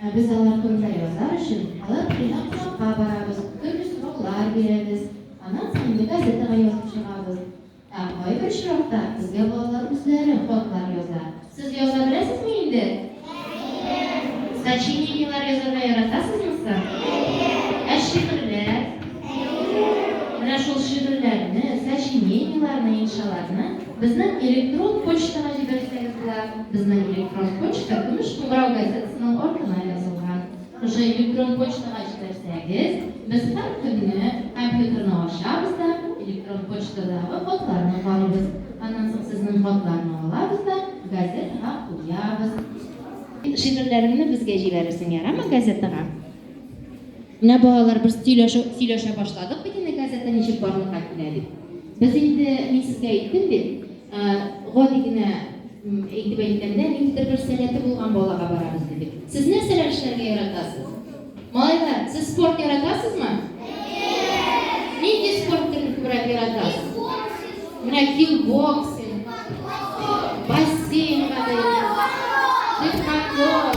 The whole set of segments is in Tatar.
Ә без алар турында язар өчен, алар турында кунакка барабыз, төрле сораулар бирәбез, аннан соң инде газетага язып чыгабыз. Ә кайбер очракта безгә балалар үзләре хатлар яза. Сез яза беләсезме инде? Әйе. Сочинениеләр язарга яратасызмы соң? Ә шигырьләр? Әйе. Менә шул шигырьләрне, сочинениеләрне, иншаларны Безнең электрон почтага җибәрсәгез була. Безнең электрон почта Көмеш кыңгырау газетасының артына язылган. Шушы электрон почтага җибәрсәгез, без һәр көнне компьютерны ачабыз да, электрон почтадагы хатларны карыйбыз. Аннан соң сезнең хатларны алабыз да, газетага куябыз. Шигырьләреңне безгә җибәрерсең, ярамы, газетага? Менә балалар, без сөйләшү, сөйләшә башладык бит инде газета ничек барлыкка килә дип. Без инде, мин сезгә әйттем бит, ә, гади генә м, әйтеп әйткәндә, ниндидер бер сәләте булган балага барабыз дидек. Сез нәрсәләр эшләргә яратасыз? Малайлар, сез спорт яратасызмы? Нинди спорт төрен күбрәк яратасыз? Менә кикбоксинг, бассейнга бәйле, биатлон.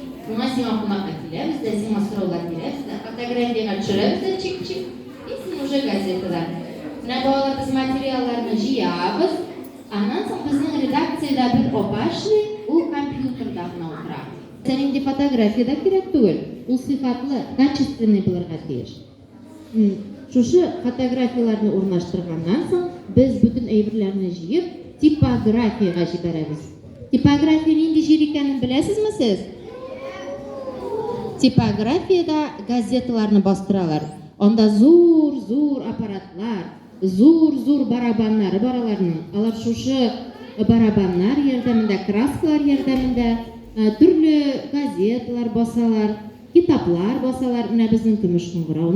Миңа сиңа кунакка киләбез дә, сиңа сораулар бирәбез дә, фотографиягә төшерәбез дә чик-чик, и син уже газетада. Менә балалар без материалларны җыябыз, аннан соң безнең редакциядә бер апа эшли, ул компьютерда гына утыра. Сиңа нинди фотография дә кирәк түгел, ул сыйфатлы, качественный булырга тиеш. Шушы фотографияләрне урнаштырганнан соң, без бөтен әйберләрне җыеп, типографиягә җибәрәбез. Типография нинди җир икәнен беләсезме сез? Типографиядә газеталарны бастыралар. Анда зур-зур аппаратлар, зур-зур барабаннары бар аларның. Алар шушы барабаннар ярдәмендә, краскалар ярдәмендә төрле газеталар басалар, китаплар басалар. Менә безнең Көмеш кыңгырауның